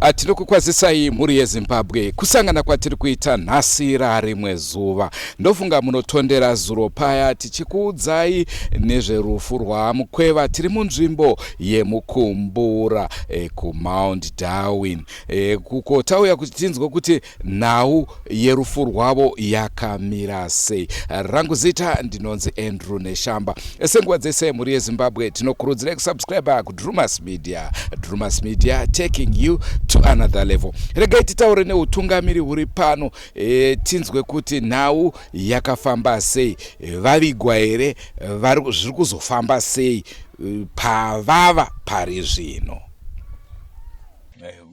Ah, tiri kukwazisai mhuri yezimbabwe kusangana kwatiri kuita nhasi rarimwe zuva ndofunga munotondera zuro paya tichikuudzai nezverufu rwamukweva tiri munzvimbo yemukumbura e, kumount darwin e, kuko tauya kuti tinzwe kuti Nhau yerufu rwavo yakamira sei? Rangu zita ndinonzi Andrew Neshamba. Senguva dzese mhuri yeZimbabwe tinokurudzirai kusubscriber kuDrewmas Media. Drewmas Media taking you to another level. Regai titaure neutungamiri huri pano e, tinzwe kuti nhau yakafamba sei, vavigwa here, zviri kuzofamba sei e, pavava pari zvino.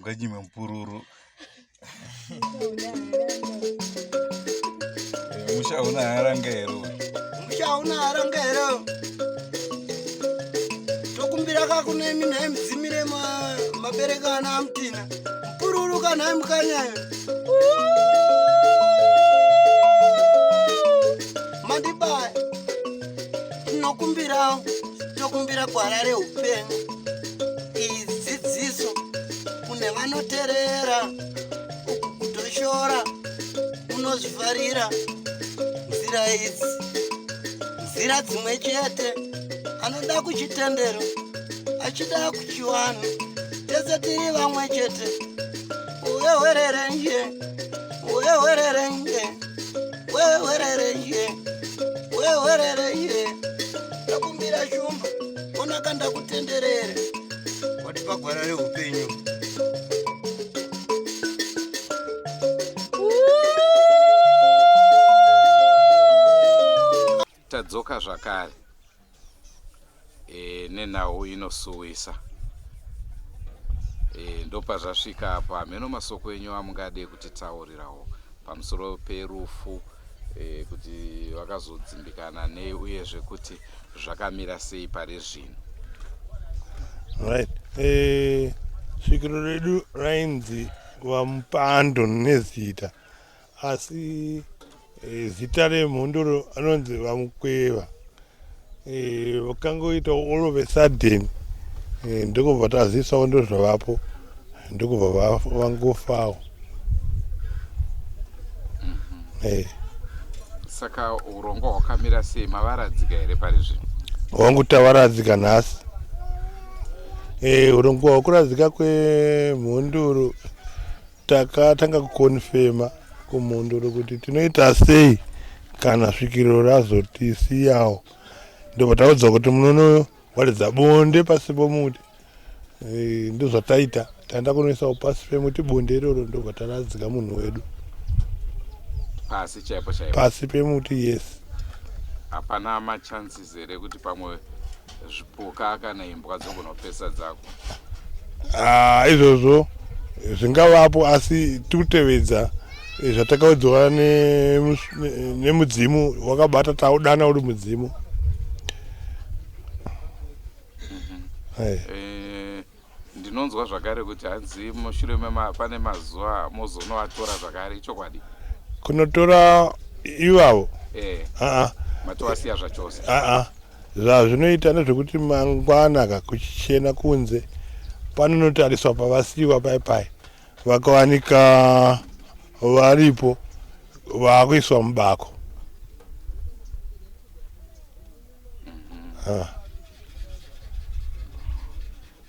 Nganyime mpururu musha una haranga here musha una haranga here tokumbira kakunemi nhai mudzimire mabereko ana amutina mupururuka nhai mukanyayo mandibaya tinokumbirawo tokumbira gwara reupenyu kune vanoterera kutoshora unozvifarira nzira idzi nzira dzimwe chete anoda kuchitendero achida kuchiwana tese tiri vamwe chete wewererenje wewererenje wewererenje wewererenje ndakumbira shumba onaka ndakutenderere watipa gwara reupenyu tadzoka zvakare e, nenhau inosuwisa e, ndopazvasvika apo hameno masoko enyu amungade kutitaurirawo pamusoro perufu e, kuti vakazodzimbikana nei uyezve kuti zvakamira sei pari zvino right eh, svikiro redu rainzi vamupando nezita asi eh, zita remhondoro anonzi vamukweva eh, vakangoita all of a sudden eh, ndokubva tazivisawo ndozvavapo ndokubva vangofawo mhm. saka urongwa hwakamira sei mavaradzika here pari zvino wangu tavaradzika nhasi eh, urongwa hwakuradzika kwemhunduru takatanga kukonfema kumhunduru kuti tinoita sei kana svikiro razotisiyawo ndobva taudza kuti munono waridza bonde pasi pomuti eh, ndozvataita taenda kunoisawo pasi pemuti bonde iroro ndobva taradzika munhu wedu pasi chaipo chaipo pasi pemuti yes hapana machances here kuti pamwe zvipuka kana imbwa dzogonopesa dzako ah, izvozvo zvingavapo asi tikutevedza eh, zvatakaudzwa nemudzimu ne, ne wakabata taudana uri mudzimu mhm. eh. Eh, ndinonzwa zvakare kuti hanzi mushure pane mazuva mozonovatora zvakare ichokwadi kunotora ivavo eh. ah, ah. matowasiya zvachose ah, ah. Zvazvinoita ndezvekuti mangwana ka kuchichena kunze panonotariswa pavasiiwa pai pai vakawanika varipo vakuiswa mubako ah.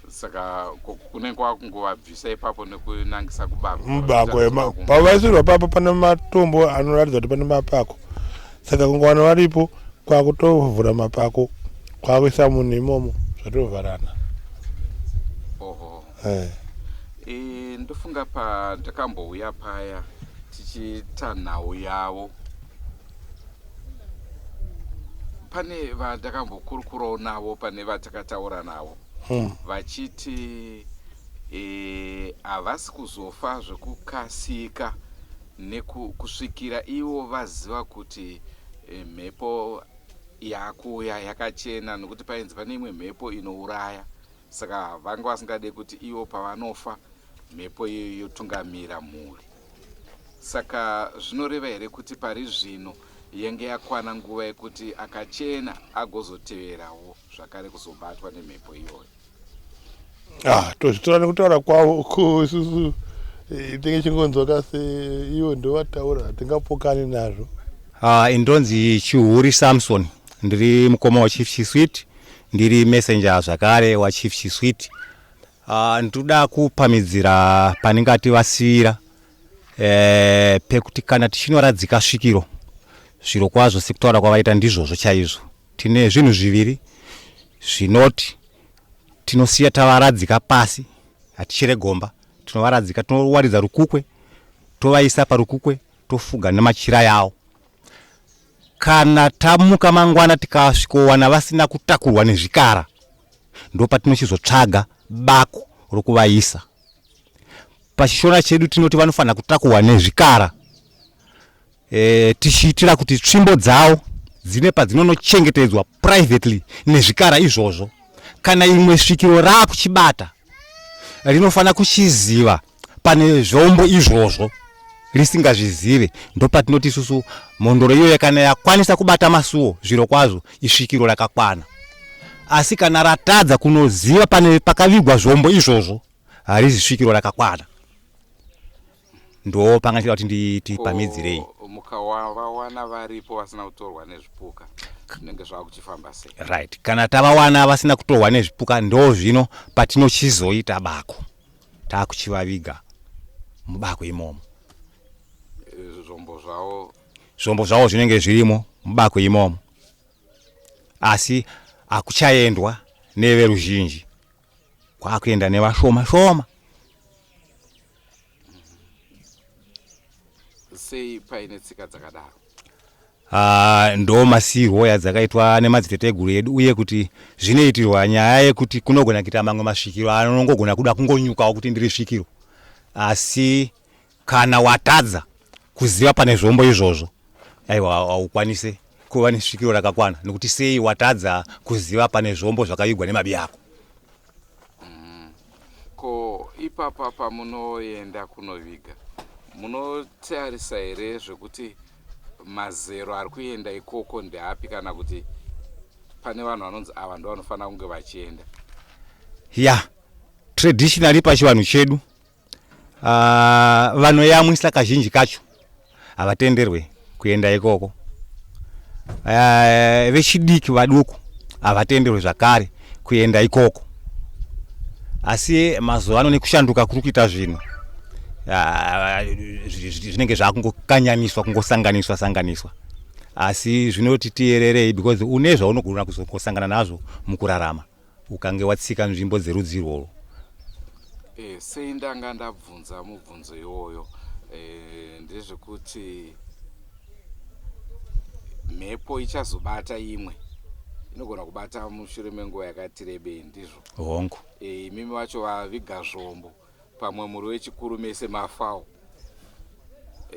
saka kunenge kwakungovabvisa ipapo nekunangisa kubako mubako pavaisirwa papo pane matombo anoratidza kuti pane mapako saka kungowana varipo kwakutovhura mapako kwakuisa munhu imomo zvatovharana oho eh. e, ndofunga pandakambouya paya tichiita nhau yavo pane vandakambokurukurawo navo pane vatakataura navo hmm. vachiti e, havasi e, kuzofa zvekukasika nekusvikira ivo vaziva kuti e, mhepo yakuuya yakachena nokuti painzi pane imwe mhepo inouraya saka vanga vasingade kuti ivo pavanofa mhepo iyoyo yotungamira mhuri Saka zvinoreva here kuti pari zvino yenge yakwana nguva yekuti akachena agozoteverawo zvakare kuzobatwa nemhepo iyoyo? Ah, tozvitora nekutaura kwavo ko isusu eh, tinge chingonzwaka seivo ndovataura hatingapokani nazvo Ah, ini ndonzi chihuri samson ndiri mukoma wachief chiswit ndiri messenger zvakare wachief chiswit Ah, ndinoda kupamidzira pane ngati vasivira eh, pekuti kana tichinoradzika svikiro zviro kwazvo sekutaura kwavaita ndizvozvo chaizvo tine zvinhu zviviri zvinoti tinosiya tavaradzika pasi hatichere gomba tinovaradzika tinowaridza rukukwe tovaisa parukukwe tofuga nemachira yawo kana tamuka mangwana tikasvikowana vasina kutakurwa nezvikara ndopatinochizotsvaga bako rokuvaisa pachishona chedu tinoti vanofanira kutakuhwa nezvikara e, tichiitira kuti tsvimbo dzawo dzine padzinonochengetedzwa privately nezvikara izvozvo kana imwe svikiro raakuchibata rinofanira kuchiziva pane zvombo izvozvo risingazvizive ndopatinoti isusu mhondoro iyoyo kana yakwanisa kubata masuwo zviro kwazvo isvikiro rakakwana asi kana ratadza kunoziva pane pakavigwa zvombo izvozvo harizi svikiro rakakwana ndo panga ndichida kuti tipamidzirei mukavawana varipo vasina kutorwa nezvipuka zvinenge zvava kuchifamba sei right kana tavawana vasina kutorwa nezvipuka ndo zvino patinochizoita bako takuchivaviga mubako imomo zvombo zvavo zvombo zvavo zvinenge zvirimo mubako imomo asi akuchaendwa neveruzhinji kwakuenda nevashoma shoma sei paine tsika dzakadaro Haa ndoo masiirwo adzakaitwa nemadziteteguru edu uye kuti zvinoitirwa nyaya yekuti kunogona kuita mamwe masvikiro anongogona kuda kungonyukawo kuti ndiri svikiro asi kana watadza kuziva pane zvombo izvozvo aiwa haukwanise kuva nesvikiro rakakwana nekuti sei watadza kuziva pane zvombo zvakavigwa nemabi ako mm. ko ipapa pamunoenda kunoviga munotarisa here zvekuti Mazero ari kuenda ikoko ndeapi kana kuti pane vanhu vanonzi ava ndovanofanira kunge vachienda? Ya, traditionally pachivanhu chedu uh, vanoyamwisa kazhinji kacho havatenderwe kuenda ikoko uh, vechidiki vaduku havatenderwe zvakare kuenda ikoko asi mazuva ano nekushanduka kuri kuita zvinhu ah, zvinenge zvakungokanyaniswa kungosanganiswa sanganiswa asi zvinoti tiyererei because une zvaunogona kuzosangana nazvo mukurarama ukange watsika nzvimbo dzerudzi irworwo e, sei ndanga ndabvunza mubvunzo iwoyo e, ndezvekuti mhepo ichazobata imwe inogona kubata mushure menguva yakati rebei ndizvo hongu e, imimi vacho vaviga zvombo pamwe muri wechikuru mese mafawo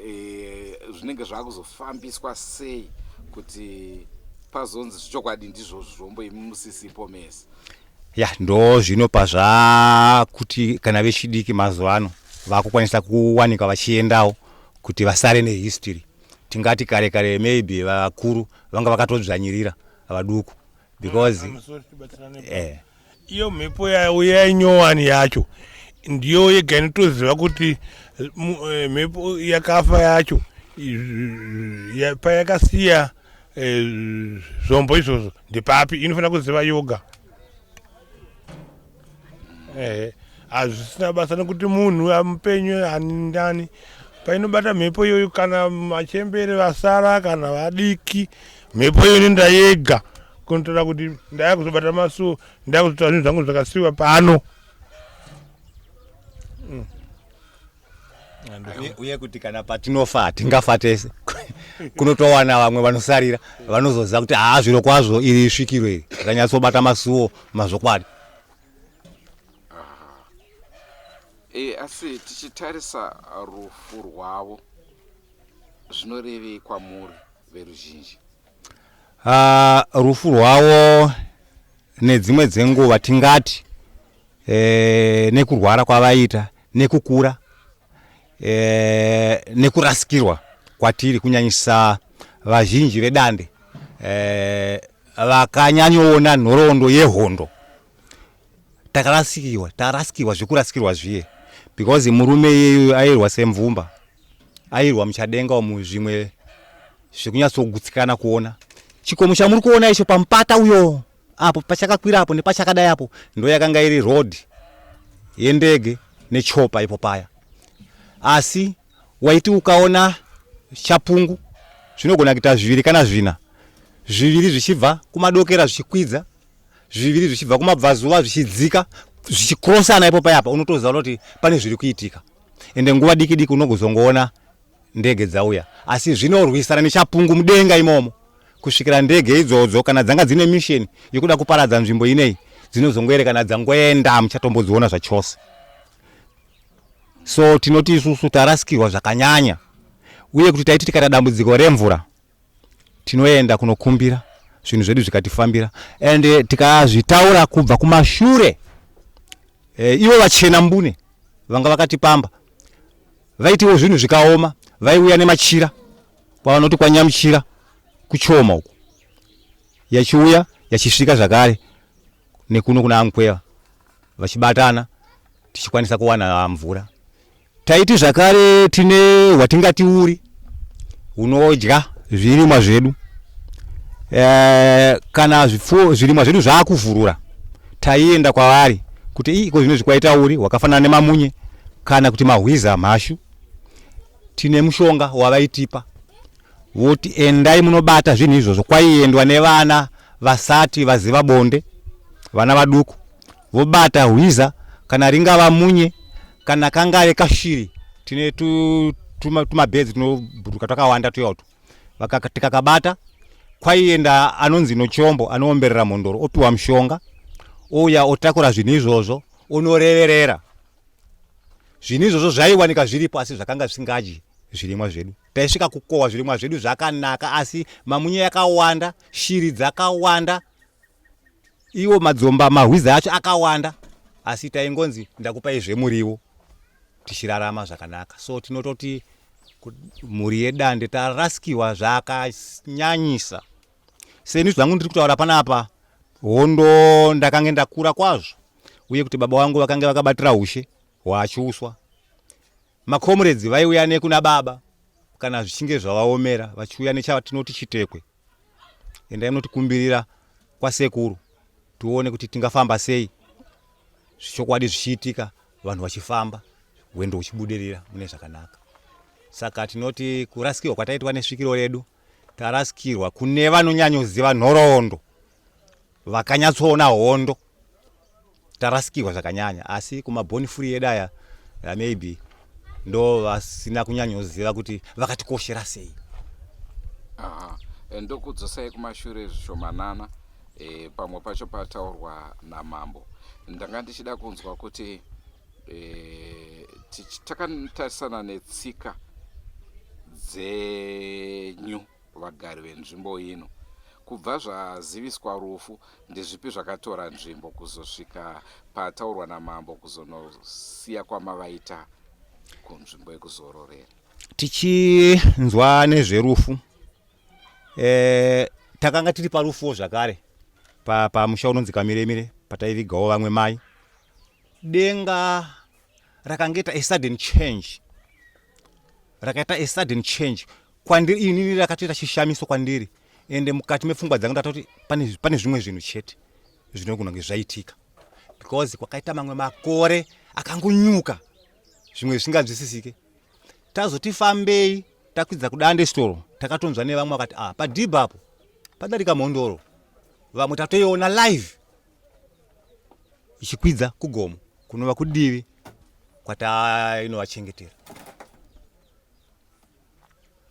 e, zvinenge zvakuzofambiswa sei kuti pazonzi zvichokwadi ndizvo zvombo imi musisipo mese ya ndo zvino pazvakuti kana vechidiki mazuva ano vakukwanisa kuwanika vachiendawo kuti vasare nehistory tingati kare kare maybe vakuru vanga vakatodzvanyirira vaduku because eh. iyo mhepo yauya inyowani yacho ndiyo yega inotoziva kuti eh, mhepo yakafa yacho payakasiya eh, zvombo izvozvo ndepapi inofanira kuziva yoga ehe hazvisina basa nekuti munhu amupenyu ani ndani painobata mhepo iyoyo kana machembere vasara kana vadiki mhepo iyoyo inoenda yega kunotora kuti ndaya kuzobata masuo ndaya kuzotora zvinhu zvangu zvakasiwa pano uye kuti kana patinofa hatingafa tese kunotowana vamwe vanosarira vanozoziva kuti haa zviro kwazvo iri svikiro iri rakanyatsobata masuwo mazvokwadi e, asi tichitarisa rufu rwavo zvinorevei kwamuri veruzhinji Ah, rufu rwavo nedzimwe dzenguva tingati eh, nekurwara kwavaita nekukura eh, nekurasikirwa kwatiri kunyanyisa vazhinji vedande eh, vakanyanyoona nhoroondo yehondo takarasikirwa tarasikirwa zvekurasikirwa zviye because murume iyeyo airwa semvumba airwa muchadenga umu zvimwe zvekunyatsogutsikana kuona chikomo chamuri kuona icho pamupata uyo apo pachakakwira apo nepachakadai apo ndo yakanga iri road yendege nechopa ipo paya asi waiti ukaona chapungu zvinogona kuita zviviri kana zvina zviviri zvichibva kumadokera zvichikwidza zviviri zvichibva kumabvazuva zvichidzika zvichikrosana ipo payapa unotoziva kuti pane zviri kuitika ende nguva diki diki unogozongoona ndege dzauya asi zvinorwisana nechapungu mudenga imomo kusvikira ndege idzodzo kana dzanga dzine misheni yekuda kuparadza nzvimbo inei dzinozongoerekana dzangoenda muchatombodziona zvachose so tinoti isusu tarasikirwa zvakanyanya uye kuti taiti tikaita dambudziko remvura tinoenda kunokumbira zvinhu zvedu zvikatifambira and eh, tikazvitaura kubva kumashure e, ivo vachena mbune vanga vakatipamba vaitiwo zvinhu zvikaoma vaiuya nemachira kwavanoti kwanyamuchira kuchoma uku yachiuya yachisvika zvakare nekuno kuna amkweva vachibatana tichikwanisa kuwana mvura Taiti zvakare tine hwatingati uri hunodya zvirimwa zvedu e, kana zvipfuwo zvirimwa zvedu zvaakuvhurura taienda kwavari kuti ii ko zvinozvi kwaita uri hwakafanana nemamunye kana kuti mahwiza mhashu tine mushonga wavaitipa voti endai munobata zvinhu izvozvo kwaiendwa nevana vasati vaziva bonde vana vaduku vobata hwiza kana ringava munye kana kangave kashiri tine tumabhedzi tunobhuruka twakawanda tuya utu tikakabata kwaienda anonzi nochombo anoomberera mhondoro opiwa mushonga ouya otakura zvinhu izvozvo onoreverera zvinhu izvozvo zvaiwanika zviripo asi zvakanga zvisingadyi zvirimwa zvedu taisvika kukohwa zvirimwa zvedu zvakanaka asi mamunye yakawanda shiri dzakawanda Iwo madzomba mahwiza acho akawanda asi taingonzi ndakupai zvemuriwo tichirarama zvakanaka so tinototi mhuri yedande taraskiwa zvakanyanyisa seni zvangu ndiri kutaura panapa hondo ndakange ndakura kwazvo uye kuti baba vangu vakange vakabatira ushe hwaachuswa makomuredzi vaiuya nekuna baba kana zvichinge zvavaomera vachiuya nechatinoti chitekwe endai munotikumbirira kwasekuru tione kuti tingafamba sei zvichokwadi zvichiitika vanhu vachifamba hwendo huchibudirira mune zvakanaka saka tinoti kurasikirwa kwataitwa nesvikiro redu tarasikirwa kune vanonyanyoziva nhoroondo vakanyatsoona hondo tarasikirwa zvakanyanya asi kumaboni furi yedu aya uh, maybe ndo vasina kunyanyoziva kuti vakatikoshera sei ah, eh, ndokudzosai kumashure zvishomanana e, pamwe pacho pataurwa namambo ndanga ndichida kunzwa kuti e, takatarisana netsika dzenyu vagari venzvimbo ino. Kubva zvaziviswa rufu, ndezvipi zvakatora nzvimbo kuzosvika pataurwa namambo kuzonosiya kwamavaita kunzvimbo yekuzororera? Tichinzwa nezverufu eh, takanga tiri parufuwo zvakare pamusha pa unonzi kamiremire pataivigawo vamwe mai denga rakangeta a sudden change rakaita a sudden change kwandiri inini rakatoita chishamiso kwandiri ende mukati mepfungwa dzangu ndatoti pane zvimwe zvinhu chete zvinogona kunge zvaitika because kwakaita mamwe makore akangonyuka zvimwe zvisinganzwisisike tazoti fambei takwidza kudande storo takatonzwa nevamwe vakati ah padhibha apo padarika mhondoro vamwe tatoiona live ichikwidza kugomo kunova kudivi kwataino vachengetera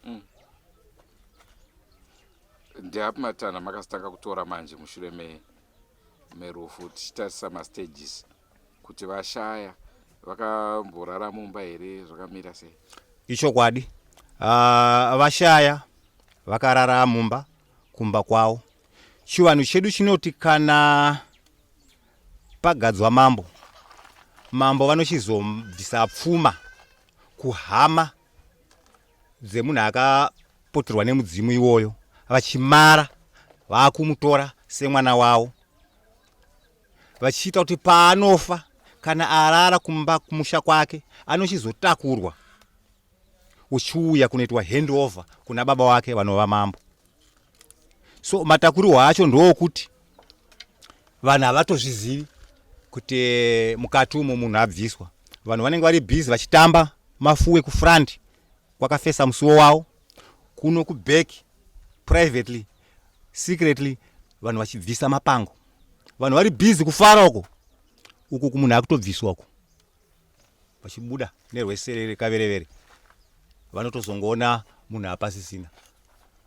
mm. ndeapi matanha makazotanga kutora manje mushure me merufu tichitarisa mastages kuti vashaya vakamborara mumba here zvakamira sei ichokwadi uh, vashaya vakarara mumba kumba kwavo chivanhu chedu chinoti kana pagadzwa mambo mambo vanochizobvisa pfuma kuhama dzemunhu akapoterwa nemudzimu iwoyo vachimara vakumutora semwana wavo vachiita kuti paanofa kana arara kumba kumusha kwake anochizotakurwa uchiuya kunoitwa handover kuna baba wake vanova mambo so matakurirwa acho ndookuti vanhu havatozvizivi kuti eh, mukati umo munhu abviswa vanhu vanenge vari busy vachitamba mafuwe kufront kwakafesa musuwo wavo kuno kuback privately secretly vanhu vachibvisa mapango vanhu vari busy kufara uko uku kumunhu akutobviswa uko vachibuda nerweserere kaverevere vanotozongoona munhu apasisina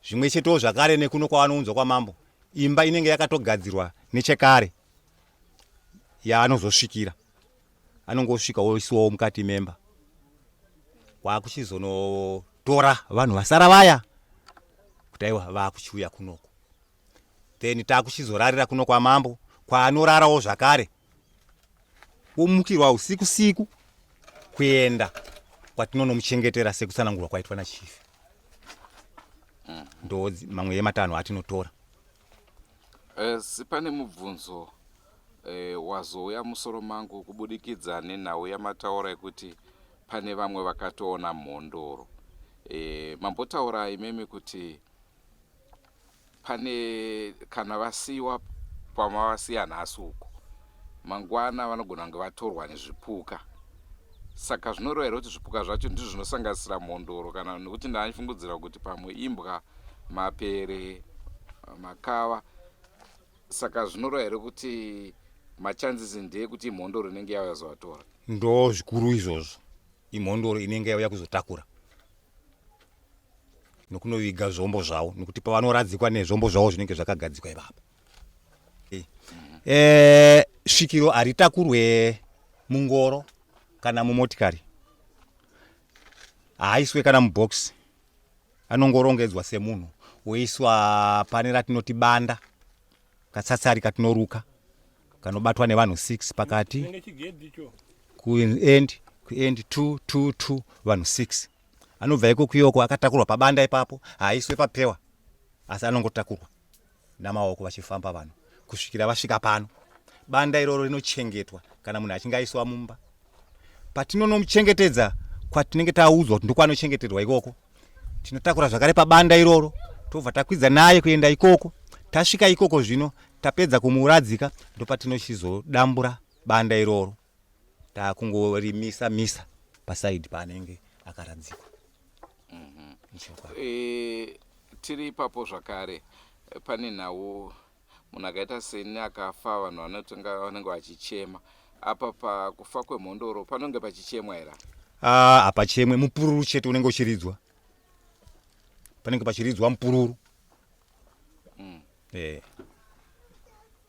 zvimwe chetewo zvakare nekuno kwavanounzwa kwamambo imba inenge yakatogadzirwa nechekare yaanozosvikira anongosvika woisiwawo mukati memba waakuchizonotora vanhu vasara vaya kuti aiwa vaakuchiuya kunoko then taakuchizorarira kuno kwamambo kwaanorarawo zvakare womukirwa usiku siku kuenda kwatinonomuchengetera sekutsanangurwa kwaitwa nachifi mm. ndo mamwe yematanho atinotora asi eh, pane mubvunzo e, wazouya musoro mangu kubudikidza nenhau yamataura yekuti pane vamwe vakatoona mhondoro e, mambotaura imimi kuti pane kana vasiwa pamavasiya nhasi uko mangwana vanogona kunge vatorwa nezvipuka saka zvinoreva here kuti zvipuka zvacho ndizvo zvinosanganisira mhondoro kana nekuti ndaifungudzira kuti pamwe imbwa mapere makava saka zvinoreva here kuti machances ndeekuti imhondoro inenge yauya zovatora ndo zvikuru izvozvo imhondoro inenge yauya kuzotakura nokunoviga zvombo zvavo nokuti pavanoradzikwa nezvombo zvavo zvinenge zvakagadzikwa ivapa eh, eh, svikiro haritakurwe mungoro kana mumotikari haaiswe kana mubhokisi anongorongedzwa semunhu woiswa pane ratinoti banda katsatsari katinoruka kanobatwa nevanhu six pakati kuend kuend two two two vanhu six anobva ikoko yoko akatakurwa pabanda ipapo haaiswe papewa asi anongotakurwa namaoko vachifamba vanhu kusvikira vasvika pano banda iroro rinochengetwa kana munhu achinge aiswa mumba patinonomuchengetedza kwatinenge taudzwa kuti ndokwanochengeterwa ikoko tinotakura zvakare pabanda iroro tobva takwidza naye kuenda ikoko tasvika ikoko zvino tapedza kumuuradzika ndopatinochizodambura banda iroro takungorimisa misa pasaidi paanenge akaradzikwa mm -hmm. e, tiri ipapo zvakare pane nhau munhu akaita seni akafa vanhu vanotenga vanenge vachichema apa pakufa kwemhondoro panonge pachichemwa here ah, hapachemwe mupururu chete unenge uchiridzwa panenge pachiridzwa mupururu mm. Eh.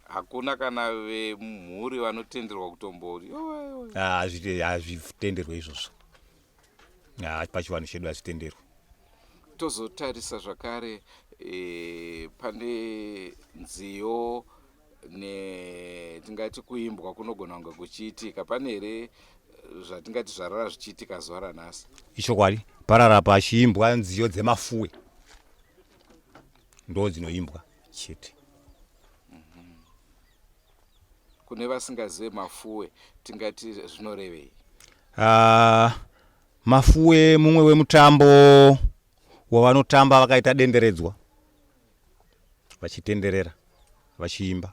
hakuna kana vemhuri vanotenderwa kutombori Yowe, yowe. Ah, hazvite- hazvitenderwe izvozvo Ah, pachivanhu chedu hazvitenderwe tozotarisa zvakare eh, pane nziyo ne tingati kuimbwa kunogona kunge kuchiitika pane here eh, zvatingati zvarara zvichiitika zuva ranhasi ichokwadi parara pachiimbwa nziyo dzemafuwe ndo dzinoimbwa chete mhm. kune vasingazive mafuwe tingati zvinorevei uh, mafuwe mumwe wemutambo wavanotamba vakaita denderedzwa vachitenderera vachiimba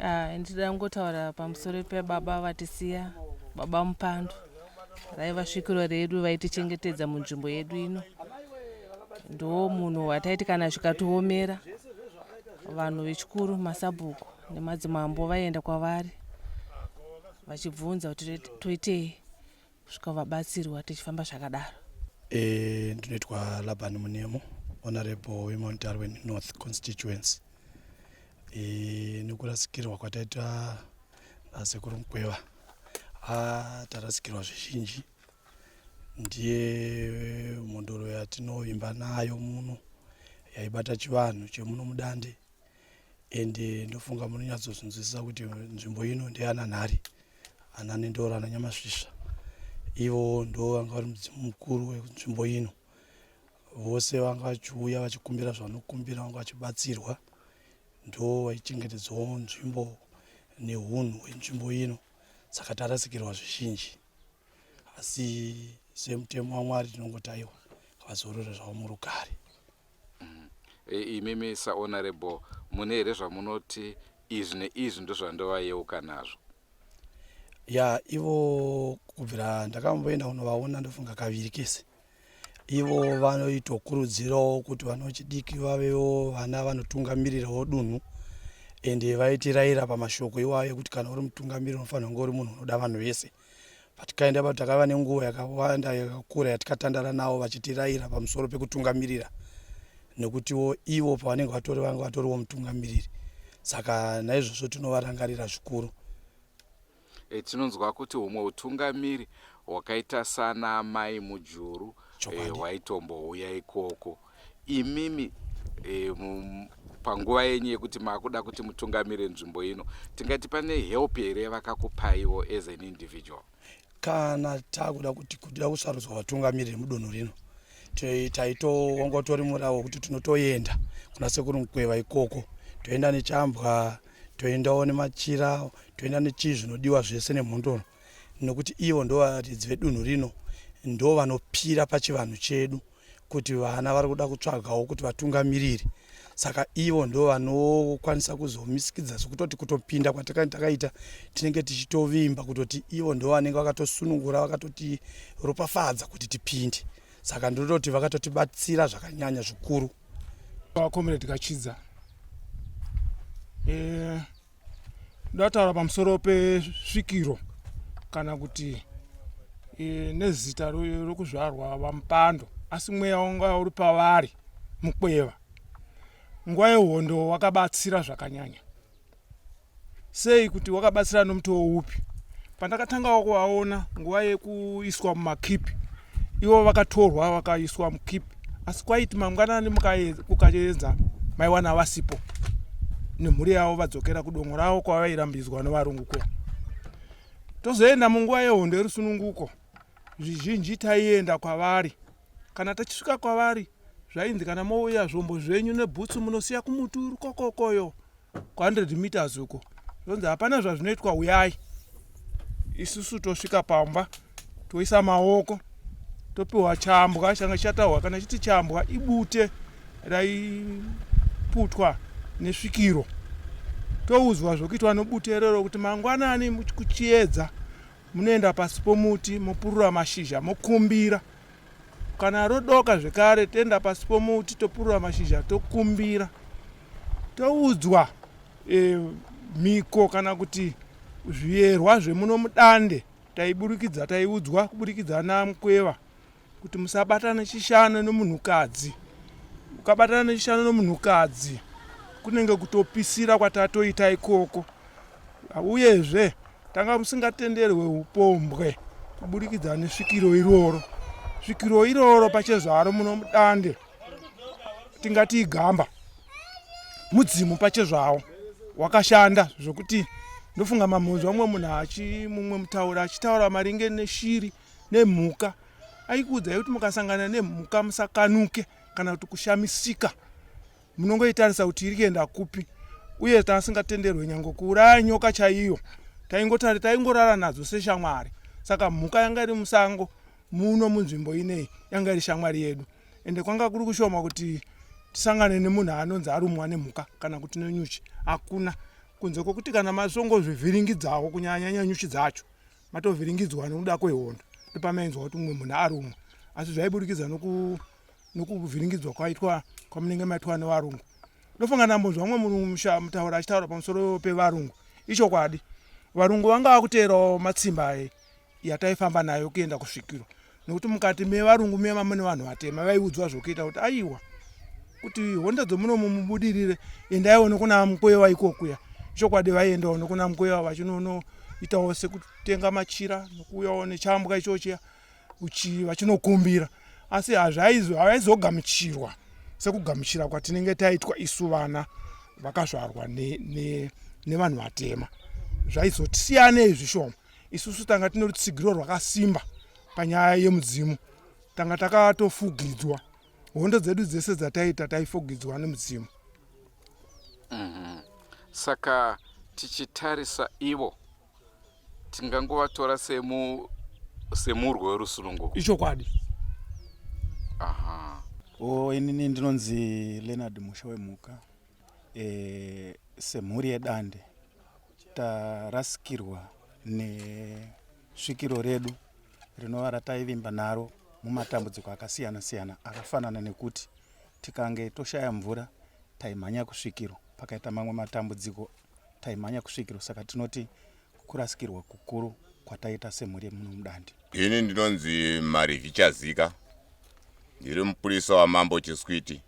Ah, ndida kungotaura pamusoro pebaba vatisiya baba mupandu raiva svikiro redu vaitichengetedza munzvimbo yedu ino ndo munhu wataiti kana zvikatiomera vanhu vechikuru masabhuku nemadzimambo vaienda kwavari vachibvunza kuti toitei kusvika vabatsirwa tichifamba zvakadaro e, ndinoitwa labani munemo honorable wemount darwin north constituency e, nekurasikirwa kwataita nasekuru ah, mukweva ah, tarasikirwa zvizhinji ndiye mhondoro yatinovimba nayo muno yaibata chivanhu chemuno mudande ende ndofunga munonyatsozvinzwisisa kuti nzvimbo ino ndeyananhari ananendora nanyamasvisva ivo ndo vanga vari mudzimu mukuru wenzvimbo ino vose vanga vachiuya vachikumbira zvavanokumbira vanga vachibatsirwa ndo vaichengetedzawo nzvimbo neunhu hwenzvimbo ino saka tarasikirwa zvizhinji asi semutemo wamwari tinongotaiwa vazorore zvavo murugare mm. e, imimi sahonorable mune here zvamunoti izvi neizvi ndozvandovayeuka nazvo ya ivo kubvira ndakamboenda kunovaona ndofunga kaviri kese ivo vanoitokurudzirawo kuti vana vechidiki vavewo vana vanotungamirirawo dunhu ende vaitirayira pamashoko iwayo ekuti kana uri mutungamiri unofanira kunge uri munhu unoda vanhu vese patikaenda pa takava nenguva yakawanda yakakura yatikatandara navo vachitiraira pamusoro pekutungamirira nekutiwo ivo pavanenge vatori vanga vatoriwo mutungamiriri saka naizvozvo tinovarangarira zvikuru e, tinonzwa kuti humwe utungamiri hwakaita sana mai mujuru eh, hwaitombouya e, ikoko imimi e, panguva yenyu yekuti makuda kuti mutungamire nzvimbo ino tingati pane help here yavakakupaiwo as an individual kana takuda kuti kuda kusarudzwa vatungamiriri mudunhu rino taitoongotori murawo wekuti tinotoenda kuna sekuru mukweva ikoko toenda nechambwa toendawo nemachira toenda nechii zvinodiwa zvese nemhondoro nekuti ivo ndo varidzi vedunhu rino ndo vanopira pachivanhu chedu kuti vana vari kuda kutsvagawo kuti vatungamiriri saka ivo ndo vanokwanisa kuzomisikidza zvekutoti kutopinda kwatakaita takaita tinenge tichitovimba kutoti ivo ndo vanenge vakatosunungura vakatotiropafadza kuti tipinde saka ndinototi vakatotibatsira zvakanyanya zvikuru vakomredi kachidza e... ndataura pamusoro pesvikiro kana kuti e, nezita rokuzvarwa vamupando asi mweya wanga uri pavari mukweva nguva yehondo wakabatsira zvakanyanya sei kuti wakabatsira nomutowo upi Pandakatangawo kuvaona nguva yekuiswa mumakipi, ivo vakatorwa vakaiswa mukipi, asi kwaiti mangwanani kukaedza maiwana vasipo nemhuri yavo vadzokera kudongo ravo kwavairambidzwa nevarungu kuya. Tozoenda munguva yehondo yerusununguko, zvizhinji taienda kwavari. Kana tichisvika kwavari, zvainzi kana mouya zvombo zvenyu nebhutsu munosiya kumuti uri kokokoyo 100 meters uko zvonzi hapana zvazvinoitwa huyai isusu tosvika pamba toisa maoko topiwa chambwa changa chataurwa kana chiti chambwa ibute raiputwa nesvikiro toudzwa zvokuitwa nobute iroro kuti mangwanani kuchiedza munoenda pasi pomuti mopurura mashizha mokumbira Kana rodoka zvekare toenda pasi pomuti topurura mashizha tokumbira toudzwa e, mhiko kana kuti zviyerwa zvemuno mudande taiburikidza taiudzwa kuburikidza namukweva kuti musabatana chishano nomunhukadzi ukabatana nechishano nomunhukadzi kunenge kutopisira kwatatoita ikoko uyezve tanga musingatenderwe upombwe kuburikidza nesvikiro iroro svikiro iroro pachezvaro muno mudande tingati igamba mudzimu pachezvawo wakashanda zvokuti ndofunga mamhonzwa mumwe munhu achi mumwe mutaura achitaura maringe neshiri nemhuka aikuudzai kuti mukasangana nemhuka musakanuke kana kuti kushamisika munongoitarisa kuti iri kuenda kupi uye taasingatenderwe nyange kuuraya nyoka chaiyo taingotari taingorara nadzo seshamwari saka mhuka yanga iri musango muno munzvimbo inei yanga iri shamwari yedu ende kwanga kuri kushoma kuti tisangane nemunhu anonzi arumwa nemhuka kana kuti nenyuchi hakuna kunze kwokuti kana masongozvivhiringidzawo kunyanyanya nyuchi dzacho matovhiringidzwa nokuda kwehondo ndopamainzwa kuti mumwe munhu arumwa asi zvaiburikidza noku nokuvhiringidzwa kwaitwa kwamunenge maitwa nevarungu ndofunga ndambonzwa mumwe munhu musha mutaura achitaura pamusoro pevarungu ichokwadi varungu vanga vakuteerawo matsimba e yataifamba nayo kuenda kusvikirwa nokuti mukati mevarungu me vamune vanhu vatema vaiudzwa zvokuita kuti aiwa kuti honda dzomunomo mubudirire endaiwo nokuna mukwewa ikokuya ichokwadi vaiendawo nokuna mukwewa vachinonoitawo sekutenga machira nokuuyawo nechambwa ichochiya vachinokumbira asi hazvaizogamuchirwa sekugamuchira kwatinenge taitwa isu vana vakazvarwa nevanhu vatema zvaizotisiyanei zvishoma isusu tanga tine rutsigiro rwakasimba panyaya yemudzimu tanga takatofugidzwa hondo dzedu dzese dzataita taifugidzwa nemudzimu mm -hmm. saka tichitarisa ivo tingangovatora semu semurwo werusununguko ichokwadi aha o inini ndinonzi leonard musha wemhuka e, semhuri yedande tarasikirwa nesvikiro redu rinova rataivimba naro mumatambudziko akasiyana siyana akafanana nekuti tikange toshaya mvura taimhanya kusvikiro pakaita mamwe matambudziko taimhanya kusvikiro saka tinoti kurasikirwa kukuru kwataita semhuri yemuno mudandi ini ndinonzi marivi chazika ndiri mupurisa wamambo chiswiti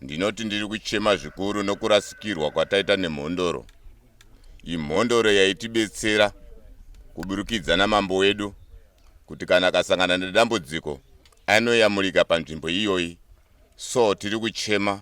ndinoti ndiri kuchema zvikuru nokurasikirwa kwataita nemhondoro imhondoro yaitibetsera kuburikidza namambo wedu kuti kana akasangana nedambudziko anoyamurika panzvimbo iyoyi so tiri kuchema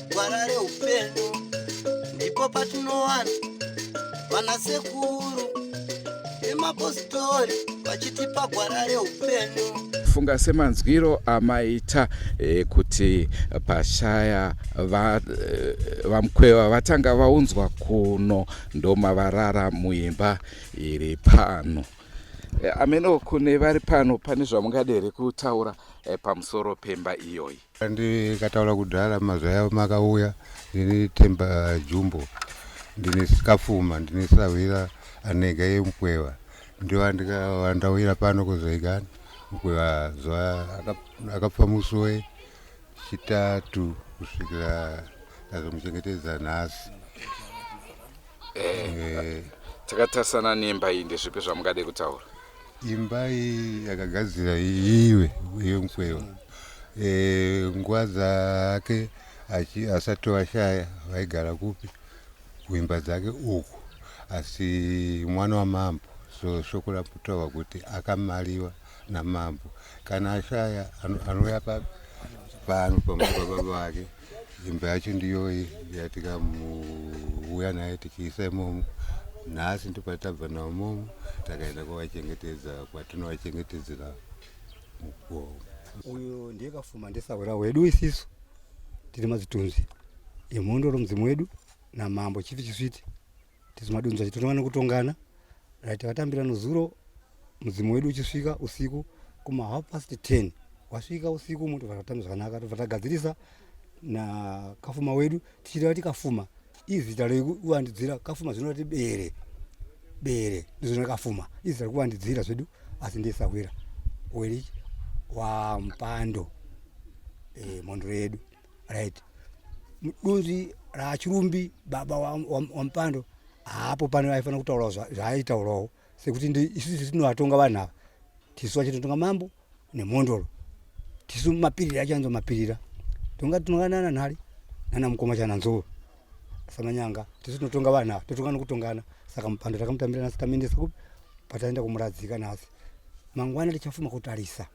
gwara reupenyu ndipo patinowana vana sekuru nemapositori vachitipa gwara reupenyu funga semanzwiro amaita e, kuti pashaya vamkweva eh, va vatanga vaunzwa kuno ndomavarara muimba iri pano e, ameno kune vari pano pane zvamungadere kutaura e, pamusoro pemba iyoyi ndikataura kudhara mazvaya makauya ndine temba jumbo ndine sikafuma ndine sahwira anega yemukweva ndiwa ndikava ndauyira pano kuzoigani mukweva zuva akapfa musoe chitatu kusvikira azomuchengetedza nhasi eh, eh. takatarisana nemba iyi ndezvipi zvamungade kutaura imba iyi yakagadzira iwe iwe mukwewa e, nguva dzake asati vashaya vaigara kupi kuimba dzake uku asi mwana wamambo so shoko raputaurwa kuti akamariwa namambo kana ashaya anouya papi pano pamababa vake Dzimba yacho ndiyoyi yatika muuya naye tichiisa imomo nhasi ndipatabva navo momo takaenda kwavachengetedza kwatinovachengetedzera mukuwo uyo ndiye kafuma ndesahwera wedu isisu tiri mazitunzi emhondo romudzimu wedu namambo chifi chisviti tizimadunza titonongana kutongana right vatambira nozuro mudzimu wedu uchisvika usiku kuma half past 10 wasvika usiku moto vatotamba zvakanaka tobva tagadzirisa na kafuma wedu tichireva ti kafuma izita rekuvandidzira kafuma zvinorati bere bere ndizvona kafuma izita rekuvandidzira zvedu asi ndesahwira weri wampando e, eh, mondoro yedu right mudunzi rachirumbi baba wamupando wa, wa haapo pane aifanira kutaurawo zvaaitaurawo sekuti isusu tinovatonga vanhu ava tisu vachitotonga mambo nemhondoro tisu mapirira achanzwa mapirira tonga tinonga nana nhari nana mukoma chana nzou samanyanga tisu tinotonga vanhu ava totonga nokutongana saka mupando takamutambira nasi tamenesa kupi pataenda kumuradzika nasi mangwana tichafuma kutarisa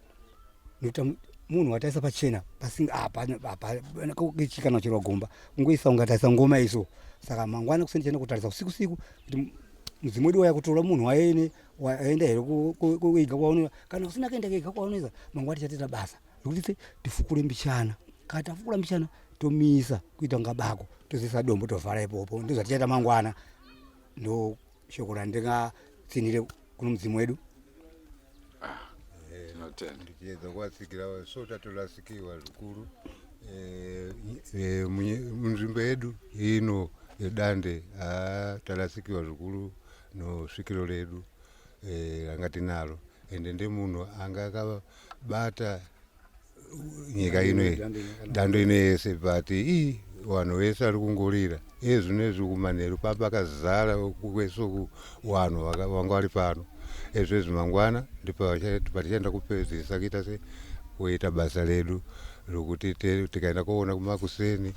munhu wataisa pachena pasingaichikana chero gomba kungoisa ungataisa ngoma iso saka mangwana kuseni chena kutarisa usiku siku kuti mudzimu wedu waya kutora munhu waene waenda here kuiga kwaunova kana usina kuenda kuiga kwaunova mangwana tichatita basa rekuti tifukure mbichana kana tafukura mbichana tomisa kuita kunga bako tozoisa dombo tovhara ipopo ndozvatichaita mangwana ndo shoko randingatsinhire kuno mudzimu wedu tiedza kuvatsikira so tatorasikiwa zvikuru eh, eh, munzvimbo yedu ino yedande ah, tarasikiwa zvikuru nosvikiro redu eh, ranga tinaro ende ndemunhu anga akabata nyika ino dando ino yese but ii vanhu vese vari kungorira ezvinezvi kumanheru papakazara kwesoku vanhu vanga vari pano ezvezvi mangwana ndipatichaenda kupedzisa kuita se kuita basa redu rokuti tikaenda koona kumakuseni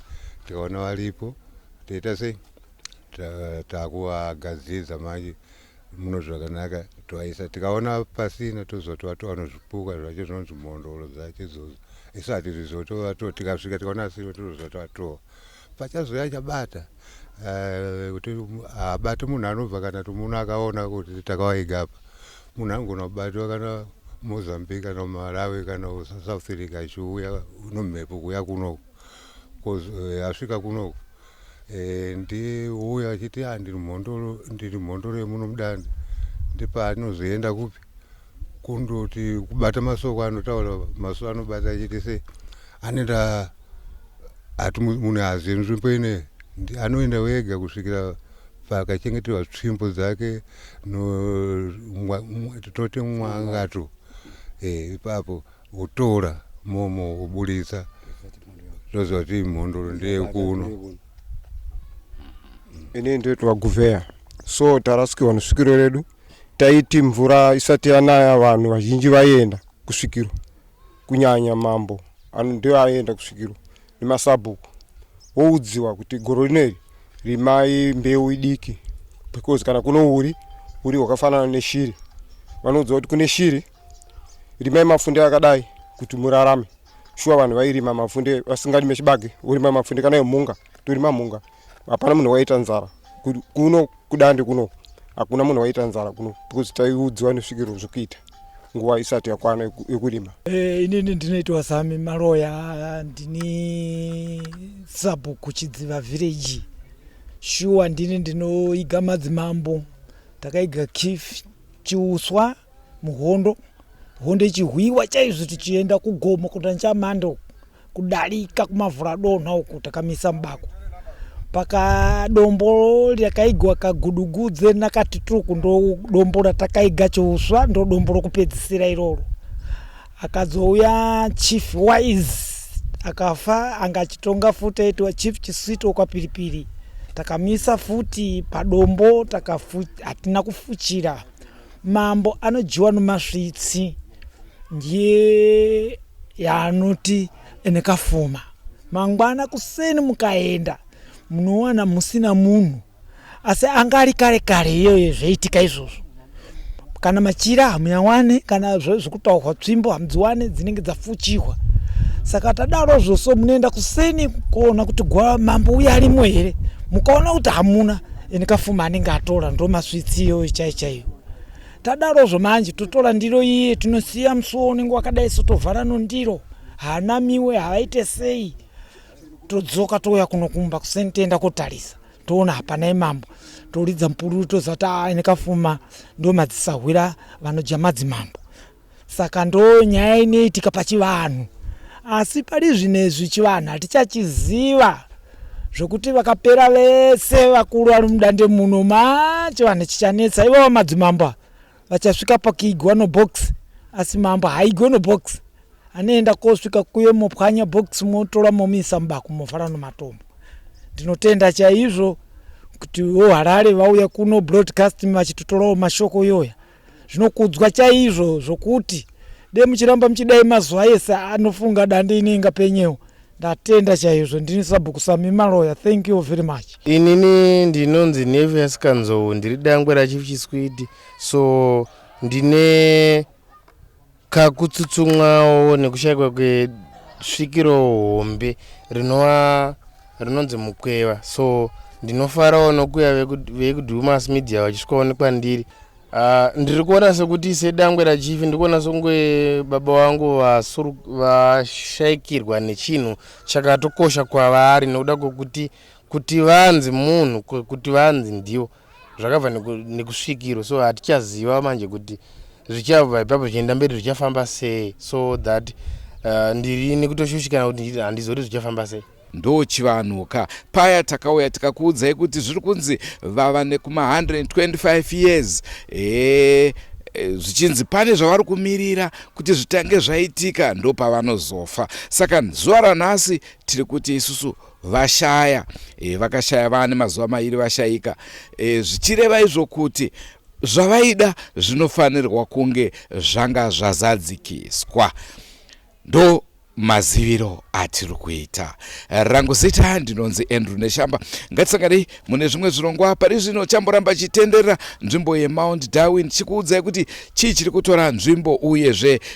tikaona varipo toita sei takuvagadzidza manje muno zvakanaka twaisa tikaona pasina tozotwa toano zvipuka zvacho zvinonzi mhondoro dzacho idzodzo isu hatizvizotova to tikasvika tikaona asiro tozotwa toa pachazouya chabata eh, kuti habate munhu anobva kana kuti muno akaona kuti takawaiga apa munhu anogona kubatwa kana mozambique kana malawi kana south africa achiuya nomhepo kuya kunoku eh, asvika kunoku Eh, ndiuya achiti ah, ndiri mhondoro ndiri mhondoro yemuno mudande ndipaanozoenda kupi kundoti kubata masoko anotaura masoko anobata achiti se anoenda ati munhu azive nzvimbo ine anoenda wega kusvikira pakachengeterwa tsvimbo dzake toti mwangato eh, ipapo Kutora momo kuburitsa toziva kuti mhondoro ndeyekuno. Ini ndoitwa Guvheya. So tarasikirwa nesvikiro redu. Taiti mvura isati yanaya vanhu vazhinji vaienda kusvikiro. Kunyanya mambo ano ndiyo aienda kusvikiro nemasabhuku. Woudziwa kuti goro rino iri rimai mbeu idiki because kana kuno uri uri hwakafanana neshiri. Vanoudziwa kuti kune shiri rimai mafunde akadai kuti murarame shuwa vanhu vairima mafunde vasingarime chibage urima mafunde kana emhunga torima mhunga hapana munhu waita nzara kuno kudande kuno hakuna munhu waita nzara kuno because taiudziwa nesvikiro zvekuita nguva isati yakwana yekurima eh, inini ndinoitwa sami maloya ndini sabhuku chidziva village shuwa ndini ndinoiga madzimambo takaiga kif chiuswa muhondo hondo ichihwiwa chaizvo tichienda kugomo kuda nchamando kudarika kumavhura donha uku takamisa mubako pakadombo rakaigwa kagudugudze nakati tiri kundodombo ratakaiga chouswa ndodombo rokupedzisira iroro akadzouya chief wise akafa anga achitonga futi aitiwa chief chisito kwapiripiri takamisa futi padombo hatina kufuchira Mambo anodyiwa nomasvitsi ndiye yaanoti ene kafuma. Mangwana kuseni mukaenda munowana musina munhu asi anga ari kare kare iyoyo zvaiitika izvozvo kana machira hamuyawane kana zvekutaurwa tsvimbo hamudziwane dzinenge dzafuchihwa saka tadaro zvoso munoenda kuseni kuona kuti mambo uya arimo here mukaona kuti hamuna ini kafuma anenge atora ndo maswitsi iyoyo chai chaiyo tadarozvo manje totora ndiro iye tinosiya musuwo unenge wakadai so tovhara nondiro haanamiwe havaite sei todzoka touya kuno kumba kuseni toenda kotarisa toona hapana imambo toridza mupururu toziva kuti ah, aa nekafuma ndo madzisahwira vanodya madzimambo Saka ndo nyaya inoitika pachivanhu. Asi pari zvinezvi chivanhu hatichachiziva zvokuti vakapera vese vakuru vari mudande muno ma chivanhu chichanetsa ivavo madzimambo vachasvika pakuigwa nobox asi mambo haigwe nobox anoenda kosvika kuye mopwanya box motora momiisa mubako mofara nomatombo ndinotenda chaizvo kuti voharare vauya kuno broadcasting vachitotorawo mashoko iyoya zvinokudzwa chaizvo zvokuti de muchiramba muchidai mazuva ese anofunga dande ine inga penyewo ndatenda chaizvo ndini sabhuku sami maloya thank you very much inini ndinonzi nevi yasikanzou ndiri dangwe rachief chiswidi so ndine kakutsutsumwawo nekushaikwa kwesvikiro hombe rinova rinonzi mukweva so ndinofarawo nokuya vekudumas media vachisvikawo nekwandiri ah, ndiri kuona sekuti sedangwe rachief ndiri kuona songe baba vangu vashaikirwa nechinhu chakatokosha kwavari nokuda kwekuti kuti vanzi munhu kuti vanzi ndivo zvakabva nekusvikirwa so hatichaziva manje kuti zvichabva ipapo zvichienda mberi zvichafamba sei so that uh, ndiri nekutoshushikana kuti handizoti zvichafamba sei ndo chivanhu ka paya takauya tikakuudzai kuti zviri kunzi vava nekuma 125 years ee Eh, zvichinzi pane zvavari kumirira kuti zvitange zvaitika ndopavanozofa saka zuva ranhasi tiri kuti isusu vashaya e, vakashaya vane mazuva mairi vashaika e, zvichireva izvo kuti zvavaida zvinofanirwa kunge zvanga zvazadzikiswa ndo maziviro atiri kuita rangu zita ndinonzi andrew neshamba ngatisanganei mune zvimwe zvirongwa pari zvino chamboramba chitenderera nzvimbo yemount darwin chikuudzai kuti chii chiri kutora nzvimbo uyezve